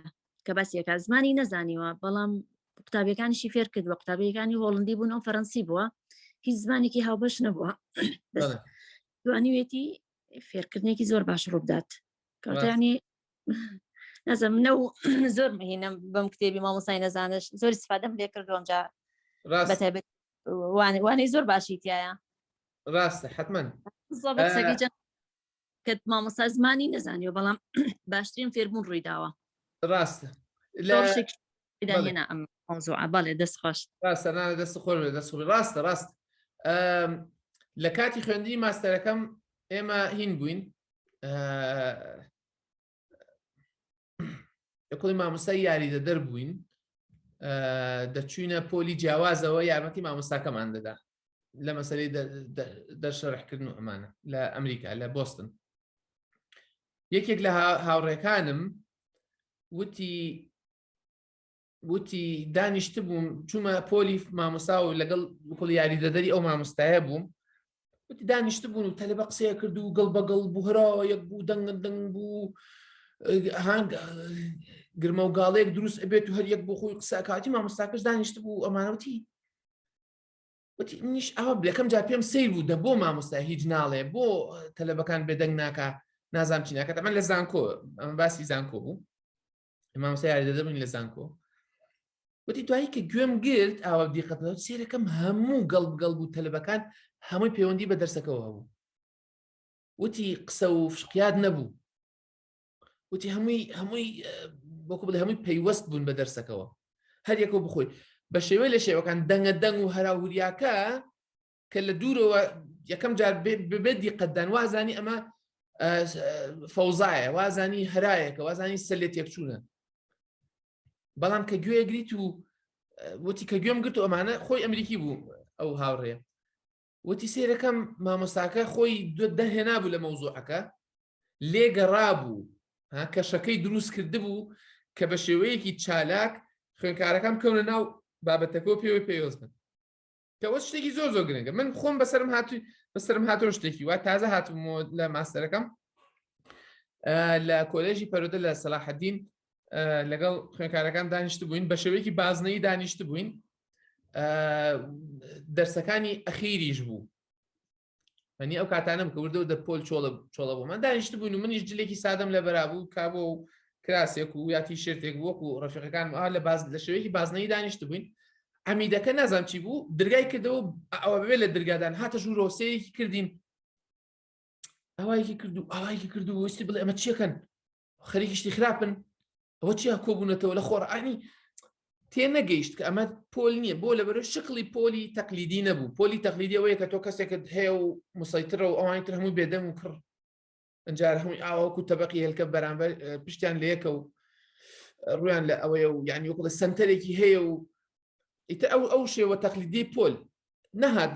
کە باسیەکە زمانی نەزانیوە بەڵام قوتابیەکانیشی فێر کرد بە قوتابیەکانی هۆڵندی بوون ئەو فەرەنسی بووە هیچ زمانێکی هاوبەش نەبووە دوانیوێتی فێرکردنێکی زۆر باش ڕووبدات کەوتانی نەزم منە و زۆر مهینە بەم کتێبی مامۆسای نەزانش زۆر سفادەم لێ کردوم جا وانەی زۆر باشی تایە ڕاستە حتمما کە مامۆسا زمانی نەزانیەوە بەڵام باشترین فێربوون ڕوویداوە ڕاستە ئەم بەڵێ دەست خۆش ڕاستە دەست خۆر دەست ڕاستە ڕاست لە کاتی خوێندی ماستەرەکەم ئێمە هین بووین لە کۆی مامۆستای یاریدە دەربووین دەچوینە پۆلی جیاوازەوە یارمەتی مامۆستاکەمان دەدا لە مەسەری دەرشەرحکردن و ئەمانە لە ئەمریکا لە بستن یەکێک لە هاوڕێکانم وتی وتی دانیشتبووم چوومە پۆلی مامۆسا و لەگەڵ بکڵ یاریدەدەری ئەو مامۆستایە بووم وتی دانیشتبوون و تەلبە قسەیە کرد و گەڵ بەگەڵ بوهراوە یەک بوو دەنگن دەنگ بوو هەنگ گرمە و گاڵێک دروست ئەبێت و هەر یەک بۆ خۆی قسەکاتی مامۆستاکەش دانیشت بوو ئەمانەوتی وتی نیش ئەوە بلەکەم جا پێم سیر بوو دە بۆ مامۆستا هیچ ناڵێ بۆ تەلبەکان بێدەنگ ناکە نازام چینەکە تەمە لە زانکۆ باسی زانکۆ بوو مامۆستا یاریدەدە بووین لە زانکۆ وتی دوایی کە گوێم گرت ئاوا دیقەت سێرەکەم هەموو گەڵ گەڵ بوو تەلبەکان هەمووی پەیوەندی بە دەرسەکەەوە هەبوو وتی قسە و فشقیات نەبوو وتی هەمووی هەمووی بۆکو بڵێ هەمووی پەیوەست بوون بە دەرسەکەەوە هەر یەکەوە بخۆی بە شێوەی لە شێوەکان دەنگە دەنگ و هەراوریاکە کە لە دوورەوە یەکەم جار ببێت دیقەتدان وازانی ئەمە فەوزایە وازانی هەرایەکە وازانی سەر لێ تێکچوونە بەڵام کە گوێ گریت و وتی کە گوێم گرت و ئەمانە خۆی ئەمریکی بوو ئەو هاوڕێ وتی سێرەکەم مامۆستاکە خۆی دەهێنا بوو لە مەوزوعەکە لێگەڕا بوو کەشەکەی دروست کرد بوو کە بە شێوەیەکی چالاک خوێنکارەکەم کەونە ناو بابەتەکە و پێوەی پێوەست بن کەەوە شتێکی زۆر زۆر گرنگە من خۆم بەسرم هاتووی بەسرم هاتۆ شتێکی وا تازە هاتم لە ماستەرەکەم لە کۆلێژی پەرۆدە لە سەلاحەدین لەگەڵ خوێنکارەکان دانیشت بووین بە شێوەیەکی بازنەی دانیشت بووین دەرسەکانی ئەخیریش بوو منی ئەو کاتانم کە وردە دە پۆل چۆڵە چۆڵە بوو من دانیشت بوون و منیش جلێکی سادەم لە بەرابوو کابۆ و کراسێک و یاتی شێتێک وەکو ڕفقەکان ئا لە باز لە شوێکی بازنەی دانیشت بووین ئەمیدەکە نازانام چی بوو درگای کردەوە ئەوە بێ لە درگادان هاتە ژوورۆسەیەکی کردین ئەوایکی کردو ئاوایکی کردو وستی بڵێ ئەمە چیەکەن خەریکی شتی خراپن ئەوە چیا کۆبوونەتەوە لە خۆڕانی تێ نەگەیشت کە ئەمە پۆل نییە بۆ لە بەرە شکلی پۆلی تەقلیدی نەبوو پۆلی تەقلیدیەوەیە کە تۆ کەسێکت هەیە و مسەیترە و ئەوانی تر هەمووی بێدەم و کڕ ئەجار هەمووی ئاوەکو تەبقی هێلکە بەرامبەر پشتیان لەیەکە و ڕویان لە ئەوەیە و یعنی وکڵە سنتەرێکی هەیە و ئیتە ئەو ئەو شێوە تەقلیدی پۆل نەهات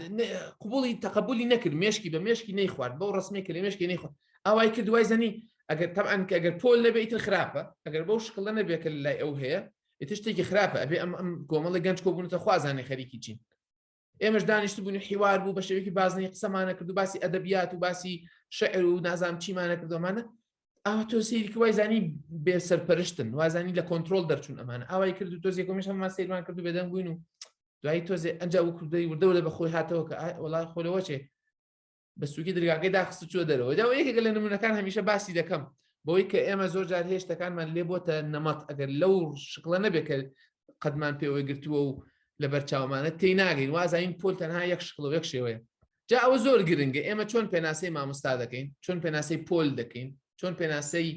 قوبولی تەقبولی نەکرد مشکی بە مشکی نەیخوارد بەو ڕسمێک کە لە مشکی نەیخوارد ئاوای کرد دوای زەنی ئەگەر تەعاان کە ئەگەر پۆل نەبێ ئیتر خراپە ئەگەر بەو شکڵە نەبێت کە لای ئەو هەیە ئیتر شتێکی خراپە ئەبێ ئەم ئەم کۆمەڵی گەنج کۆبوونەتە خوازانێ خەریکی چین ئێمەش دانیشت بوون حیوار بوو بە شێوکی بازنی قسەمانە کرد و باسی ئەدەبیات و باسی شعر و نازام چیمانە کردومانە ئاوا تۆ سیرکی وای زانی بێ سەرپەرشتن وازانی لە کۆنتترۆل دەرچوون ئەمانە ئاوای کرد و تۆزیێکمیش هەممان سیرمان کرد و بێدەنگ بووین و دوایی تۆزێ ئەجا و کوردەی وردەوە لە بەخۆی هاتەوە کە وڵای خۆرەوە چێ بە سوکی درگاکەی داخست چوە دەرەوە جا یەکێکە لە نمونونەکان هەمیشە باسی دەکەم بۆی کە ئێمە زۆر جار هێشتەکانمان لێ بۆتە نەمەت ئەگەر لەو شکڵە نەبێت کە قەدمان پێوەی گرتووە و لە بەرچاومانە تی ناگەین وازین پۆل تەنها یەک شکڵ و یەک شێوەیە جا ئەوە زۆر گرنگە ئێمە چۆن پێناسی مامۆستا دەکەین چۆن پێناسی پۆل دەکەین چۆن پێناسی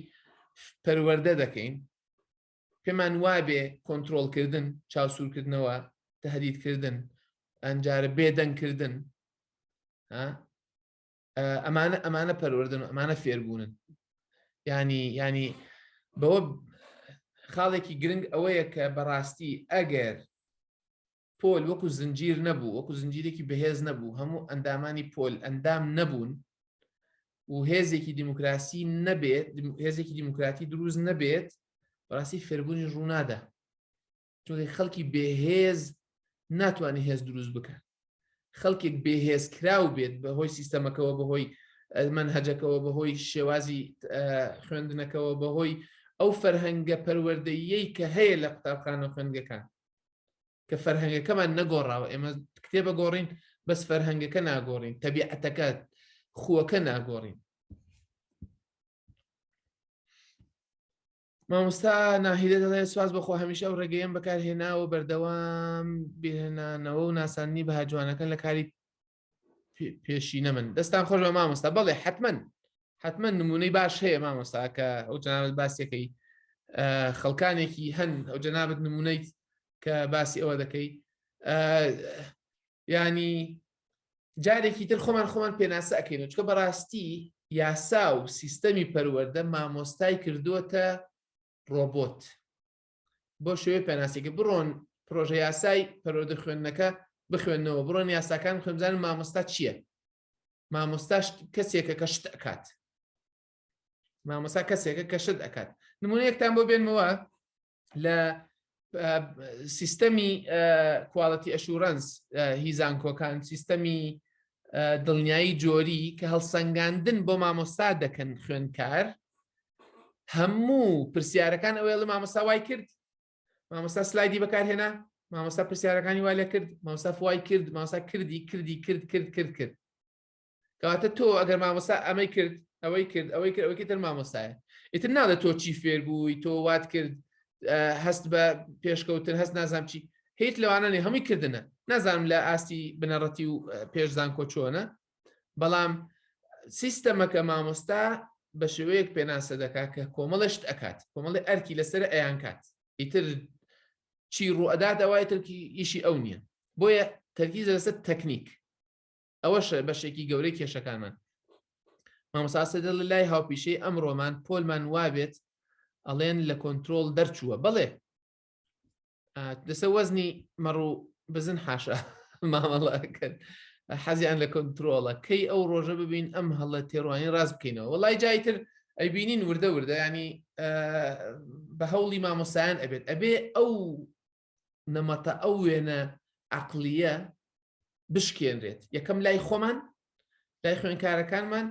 پەروەەردە دەکەین پێمان وابێ کۆنتترۆلکردن چاوسورکردنەوە تهدیدکردن ئەنجارە بێدەنگکردن ئەمانە ئەمانە پەروەردن و ئەمانە فێربوونن ینی ینی بەوە خاڵێکی گرنگ ئەوەیە کە بەڕاستی ئەگەر پۆل وەکو زنجیر نەبوو وەکو زنجیرێکی بەهێز نەبوو هەموو ئەندامانی پۆل ئەندام نەبوون و هێزێکی دیموکراسی نەبێت هێزێکی دیموکراتی دروست نەبێت بەڕاستی فێربوونی ڕوونادا چونکە خەڵکی بێهێز ناتوانانی هێز دروست بکە خەڵکێک بێهێز کراو بێت بە هۆی سیستەمەکەەوە بەهۆی من هەجەکەەوە بەهۆی شێوازی خوێندنەکەەوە بەهۆی ئەو فەرهەنگە پەروەردەیەی کە هەیە لە قوتابخانە خوێندگەکان کە فەرهەنگەکەمان نەگۆڕاوە ئێمە کتێبە گۆڕین بەس فەرهەنگەکە ناگۆڕین تەبیعەتەکە خوەکە ناگۆڕین مامۆستا ناهیدە دەڵێ سواز بەخۆ هەمیشە ئەو ڕێگەیەم بەکارهێناوە بەردەوام بێنانەوە و ناساننی بەها جوانەکان لە کاری پێشینە من دەستان خۆش بە مامۆستا بەڵێ حتمما حتمما نمونەی باش هەیە مامۆستا کە ئەو جنابەت باسیەکەی خەڵکانێکی هەن ئەو جنابەت نمونەیت کە باسی ئەوە دەکەی ینی جارێکی تر خۆمان خۆمان پێناسە ئەەکەین چکە بەڕاستی یاسا و سیستەمی پەروەەردە مامۆستای کردووەتە ڕۆبۆت بۆ شێوەی پێناسێکی بڕۆن پرۆژە یاسای پەرۆدە خوێندنەکە بخوێنەوە بڕۆن یاساکان خوێنزان مامۆستا چییە مامۆستاش کەسێکە کە شت ئەکات مامۆسا کەسێکە کە شت ئەکات نمونەیەکتان بۆ بێنمەوە لە سیستەمی کوالەتی ئەشورەنس هیزانکۆکان سیستەمی دڵنیایی جۆری کە هەڵسەنگاندن بۆ مامۆستا دەکەن خوێنکار هەموو پرسیارەکان ئەوێڵ مامۆستا وای کرد مامۆستا سلایدی بەکارهێنا مامۆستا پرسیارەکانی وای لە کرد مامۆستا فوای کرد مامۆستا کردی کردی کرد کرد کرد کرد کەواتە تۆ ئەگەر مامۆستا ئەمەی کرد ئەوەی کرد ئەوەی کرد ئەوەی تر مامۆستایە ئیتر ناڵێت تۆ چی فێربووی تۆ وات کرد هەست بە پێشکەوتن هەست نازام چی هیچ لەوانە نێ هەمووی کردنە نازانم لە ئاستی بنەڕەتی و پێش زانکۆ چۆنە بەڵام سیستەمەکە مامۆستا بە شێوەیەک پێناسە دەکات کە کۆمەڵشت ئەکات کۆمەڵی ئەرکی لەسەر ئەیان کات ئیتر چی ڕوئەدات ئەوای ترکی ئیشی ئەو نییە بۆیە تەرگیزە لەسەر تەکنیک ئەوەش بەشێکی گەورەی کێشەکانمان مامۆساسە دڵ لای هاوپیشەی ئەمڕۆمان پۆلمان وابێت ئەڵێن لە کۆنتترۆل دەرچووە بڵێ دەسە وەزنی مەڕ و بزن حاشا مامەڵەکەن حەزیان لە کۆنتترۆڵە کەی ئەو ڕۆژە ببین ئەم هەڵە تێڕوانی ڕاست بکەینەوە وڵای جایتر ئەبینین وردە وردە ینی بە هەوڵی مامۆسایان ئەبێت ئەبێ ئەو نەمەتە ئەو وێنە عقلیە بشکێنرێت یەکەم لای خۆمان لای خوێنکارەکانمان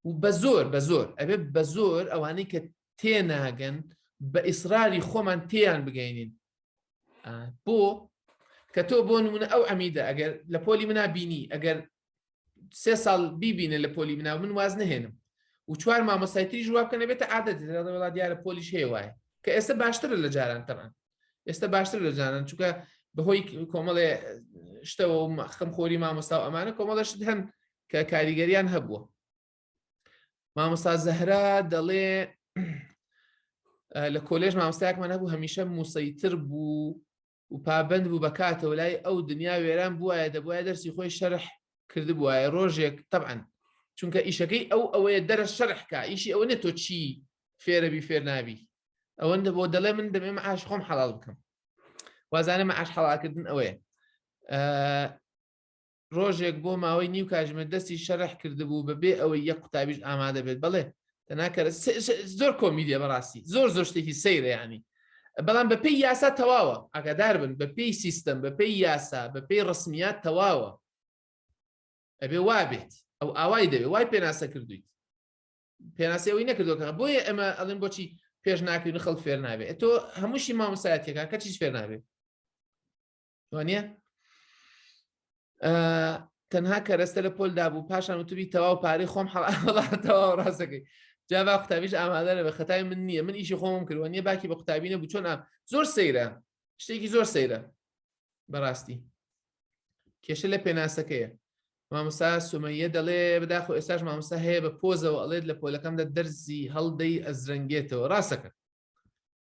و بە زۆر بە زۆر ئەبێ بە زۆر ئەوانەی کە تێناگەن بە ئیسراری خۆمان تێیان بگەینین بۆ کە تۆ بۆ نمونە ئەو ئەمیدە ئەگەر لە پۆلی منا بینی ئەگەر سێ ساڵ بیبینە لە پۆلی منا من واز نهێنم و چوار مامۆسایتری ژوا بکەنە بێتە عادەت وڵات دیارە پۆلیش هەیە وایە کە ئێستا باشتر لە جاران تەمان ئێستا باشتر لە جانان چونکە بەهۆی کۆمەڵێ شتەوە خەم خۆری مامۆستا و ئەمانە کۆمەڵەشت هەن کە کاریگەریان هەبووە مامۆستا زەهرا دەڵێ لە کۆلێژ مامۆستایەکمان هەبوو هەمیشە موسەیتر بوو و پابند بوو بەکاتەوە لای ئەو دنیا وێران بووایە دەبواە دەرسی خۆی شەرح کرد بواە ڕۆژێک طبعاً چونکە ئیشەکەی ئەو ئەوەیە دەرە شەرحکە ئیشی ئەوە نە تۆ چی فێرەبی فێر نابی ئەوەندە بۆ دەڵێ من دەمێ معاش خۆم حەڵال بکەم وازانە معاش حەڵاکردن ئەوەیە ڕۆژێک بۆ ماوەی نیو کاژمێر دەستی شەرح کردبوو بە بێ ئەوەی یەک قوتابیش ئامادە بێت بەڵێ تەناکەرە زۆر کۆمیدیە بەڕاستی زۆر زۆر شتێکی سەیرەیانی بەڵام بەپی یاسا تەواوە ئاگادار بن بەپی سیستم بەپی یاسا بەپی ڕسمیات تەواوە ئەبێ وابێت ئەو ئاوای دەوێ وای پێناسە کردویت پێناسەوەی نەکردەکە بۆیە ئەمە ئەڵێن بۆچی پێش ناکەین خەڵ فێر نابێت تۆ هەمووشی مامۆسایەتەکە کەچیش فێر نابێت وانە تەنها کەرەستە لە پۆل دابوو پاشان وتبی تەواو پارەی خۆم حڵاتەوە ڕاستەکەی جاوا قوتابیش ئامادە لە بە خەتای من نییە من ئیشی خۆم کردوە نیە باکی بە قوتابینە بچۆن ئام زۆر سەیرە شتێکی زۆر سەیرە بەڕاستی کێشە لە پێناسەکەیە مامۆسا سومەیە دەڵێ بداخۆ ئێستاش مامۆسا هەیە بە پۆزەوە ئەڵێت لە پۆلەکەمدا دەرزی هەڵدەی ئەزرەنگێتەوە ڕاستەکە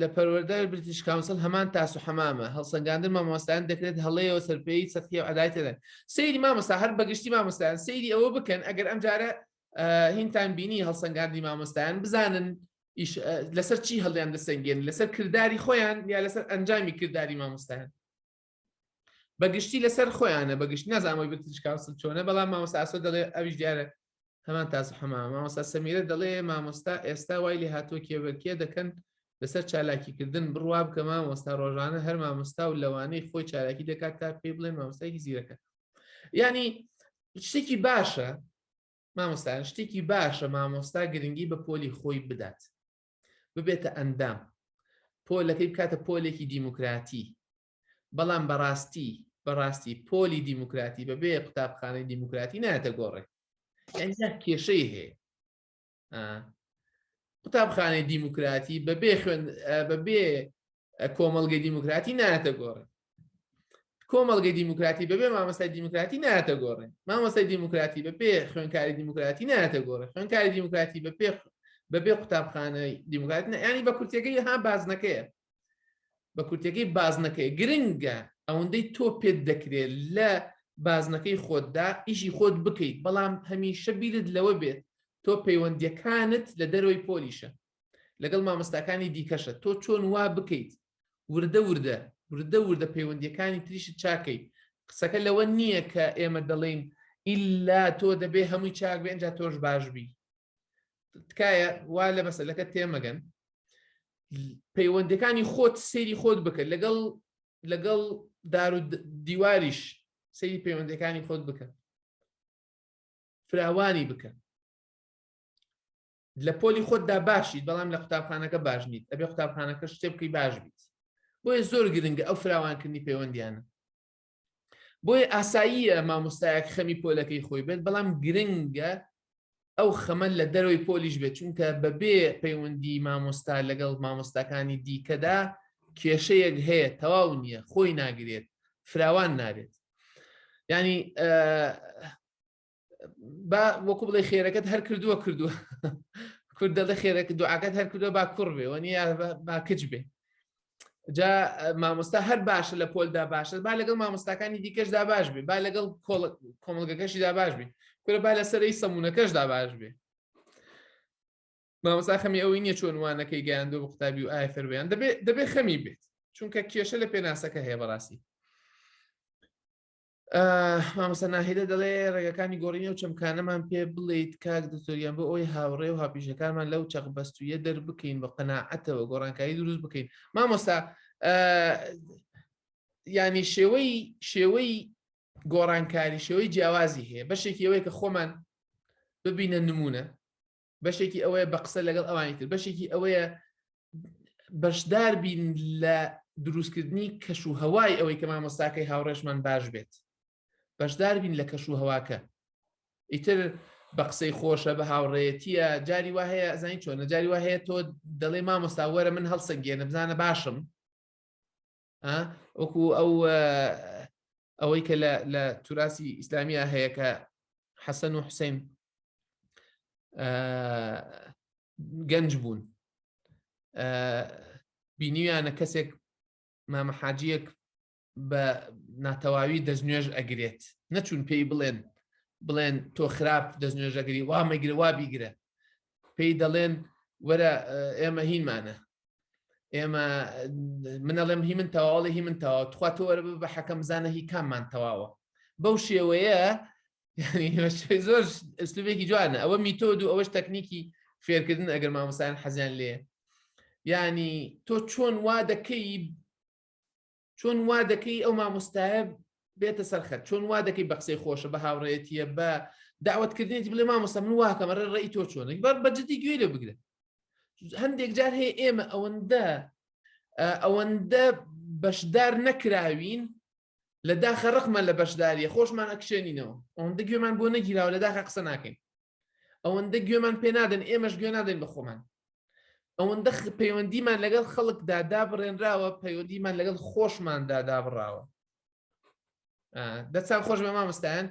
لە پەروەردە بریتیش کاونسل هەمان تاس و حەمامە هەڵسەنگاندن مامۆستایان دەکرێت هەڵەیەوە سەرپێی سەختی و عدایتەدەن سەیری مامۆستا هەر بەگشتی مامۆستایان سەیری ئەوە بکەن ئەگەر ئەم جارە هینتان بینی هەڵسەنگاندی مامۆستایان بزانن لەسەر چی هەڵیان دەسەنگێن لەسەر کردداری خۆیان یا لەسەر ئەنجامی کردداری مامۆستایان بەگشتی لەسەر خۆیانە بەگشت نازانەوەی بتش کاوسل چۆنە بەڵام مامۆستا ئاسۆ دەڵێ ئەویش دیارە هەمان تاز حەما مامۆستا سەمیرە دەڵێ مامۆستا ئێستا وای لێ هاتووە کێبەرکێ دەکەن لەسەر چالاکیکردن بڕوا بکە مامۆستا ڕۆژانە هەر مامۆستا و لەوانەی خۆی چالاکی دەکات تا پێی بڵێن مامۆستایکی زیرەکە ینی شتێکی باشە مامۆستایان شتێکی باشە مامۆستا گرنگی بە پۆلی خۆی بدات ببێتە ئەندام پۆلەکەی بکاتە پۆلێکی دیموکراتی بەڵام بەڕاستی بەڕاستی پۆلی دیموکراتی بەبێ قوتابخانەی دیموکراتی ناتە گۆڕێ یانجا کێشەی هەیە قوتابخانەی دیموکراتی بەبێ خوێن بەبێ کۆمەلگەی دیموکراتی ناتە گۆڕێ کۆمەلگەی دیموکراتی بەبێ مامەستای دیموکراتی ناتە گۆڕێ مامەستای دیموکراتی بە پێ خوێنکاری دیموکراتی ناتە گۆڕێ خوێنکاری دیموکراتی بە پێ بەبێ قوتابخانەی دیموکراتی ینی بە کورتەکەی ها بازنەکەیە بە کورتەکەی بازنەکەی گرنگە ئەوەندەی تۆ پێت دەکرێت لە بازنەکەی خۆتدا ئیشی خۆت بکەیت بەڵام هەمیشە بیرت لەوە بێت تۆ پەیوەندیەکانت لە دەرەوەی پۆلیشە لەگەڵ مامۆستاکانی دیکەشە تۆ چۆن وا بکەیت وردە وردە وردە وردە پەیوەندیەکانی تریشت چاکەی قسەکە لەوە نییە کە ئێمە دەڵێین ئللا تۆ دەبێ هەمووی چاک بێ ئەجا تۆش باش بی تکایە وا لە مەسلەکە تێمەگەن پەیوەندەکانی خۆت سێری خۆت بکە لەگەڵ لەگەڵ دار و دیواریش سەیری پەیوەندەکانی خۆت بکە فراوانی بکە لە پۆلی خۆتدا باشیت بەڵام لە قوتابخانەکە باش نیت ئەبێ قوتابخانەکە شتێ بکەی باش بیت بۆیە زۆر گرنگە ئەو فراوانکردنی پەیوەندیانە بۆیە ئاساییە مامۆستایەک خەمی پۆلەکەی خۆی بێت بەڵام گرنگە ئەو خەمە لە دەرەوەی پۆلیش بێت چونکە بەبێ پەیوەندی مامۆستا لەگەڵ مامۆستاکانی دیکەدا کێشەیەک هەیە تەواو نییە خۆی ناگرێت فراوان نابێت ینی با وەکو بڵێ خێرەکەت هەر کردووە کردووە کورد دەڵێ خێرەکە دوعاکەت هەر کردووە با کوڕ بێ وە نیە با کچ بێ جا مامۆستا هەر باشە لە پۆلدا باشە با لەگەڵ مامۆستاکانی دیکەشدا باش بێ با لەگەڵ کۆمەلگەکەشیدا باش بێ کورە با لەسەری سەمونونەکەشدا باش بێ مامۆستا خەمی ئەوەی نیە چۆن وانەکەی گەیاندۆ بە قوتابی و ئای فەربیان دەبێت دەبێت خەمی بێت چونکە کێشە لە پێناسەکە هەیە بەڕاستی مامۆستا ناهیدە دەڵێ ڕێگەکانی گۆڕینە و چەمکانەمان پێ بڵیت کاک دکتۆریان بۆ ئەوی هاوڕێ و هاپیشەکانمان لەو چەق بەستویە دەربکەین بە قەنەعەتەوە گۆڕانکاری دروست بکەین مامۆستا ینی شێوەی شێوەی گۆڕانکاری شێوەی جیاوازی هەیە بەشێکی ئەوەیە کە خۆمان ببینە نمونە بەشێکی ئەوەیە بە قسە لەگەڵ ئەوانی تر بەشێکی ئەوەیە بەشدار بین لە دروستکردنی کەش و هەوای ئەوەی کە مامۆستاکەی هاوڕێشمان باش بێت بەشدار بین لە کەش و هەواکە ئیتر بە قسەی خۆشە بە هاوڕێتیە جاری وا هەیە ئەزانی چۆنە جاری وا هەیە تۆ دەڵێ مامۆستا وەرە من هەڵسەنگێنە بزانە باشم وەکو ئەو ئەوەی کە لە توراسی ئیسلامیا هەیە کە حەسەن و حوسین گەنج بوون بینیویانە کەسێک مامەحاجیەک بە ناتەواوی دەستنوێژ ئەگرێت نەچوون پێی بڵێن بڵێن تۆ خراپ دەستنوێژەگری وامەگرە وا بیگرە پێی دەڵێن وەرە ئێمە هینمانە ئێمە منەڵێم هی من تەواڵی هی من تەواو تخوا تۆ وەرە بە حەکەم زانە هی کاممان تەواوە بەو شێوەیە زۆر ئەسلوبێکی جوانە ئەوە میتۆد و ئەوەش تەکنیکی فێرکردن ئەگەر مامۆسایان حەزیان لێ ینی تۆ چۆن وا دەکەی چۆن وا دەکەی ئەو مامۆستایە بێتە سەرخەت چۆن وا دەکەی بە قسەی خۆشە بە هاوڕێتیە بە داوتکردنیت بلێ مامۆستا من واکەمە ڕێ ڕێی تۆ چۆنە بەر بەجددی گوێ لە بگرە هەندێک جار هەیە ئێمە ئەوەندە ئەوەندە بەشدار نەکراوین لە داخە ڕقمان لە بەشداریە خۆشمان ئەکشێنینەوە ئەوەندە گوێمان بۆ نەگیراوە لە داخە قسە ناکەین ئەوەندە گوێمان پێ نادەن ئێمەش گوێ نادەین بە خۆمان ئەوەندە پەیوەندیمان لەگەڵ خەڵکدا دابڕێنراوە پەیوەندیمان لەگەڵ خۆشماندا دابڕاوە دەستان خۆش بە مامۆستایان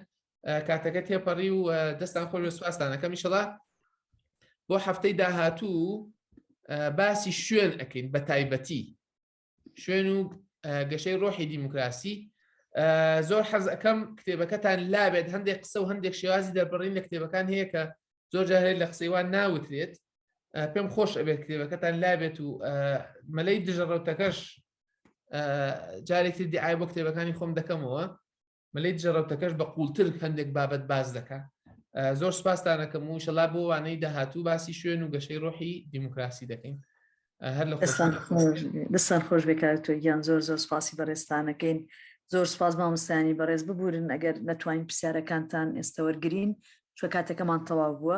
کاتەکە تێپەڕی و دەستان خۆش بە سوپاستانەکەم میشڵە بۆ هەفتەی داهاتوو باسی شوێن ئەکەین بە تایبەتی شوێن و گەشەی ڕۆحی دیموکراسی زۆر حەز ئەەکەم کتێبەکەتان لابێت هەندێک قسە و هەندێک شێوازی دەربڕین لە کتێبەکان هەیە کە زۆر جاهێت لە قسەیوان ناوترێت پێم خۆش ئەبێت کتێبەکەتان لابێت و مەلەی دژەڕەوتەکەش جارێکی دیعای بۆ کتێبەکانی خۆم دەکەمەوە مەلەی دژە ڕەوتەکەش بە قوڵتر هەندێک بابەت باز دەکا زۆر سپاستانەکەم و شەلا بۆ وانەی داهاتوو باسی شوێن و گەشەی ڕۆحی دیموکراسی دەکەین هەر لە دەستان خۆش بێکار تۆ گیان زۆر زۆر سپاسی بەڕێستانەکەین زۆر سپاس مامۆستانی بەڕێز ببورن ئەگەر نەتوانین پرسیارەکانتان ئێستا وەرگین چوە کاتەکەمان تەواو بووە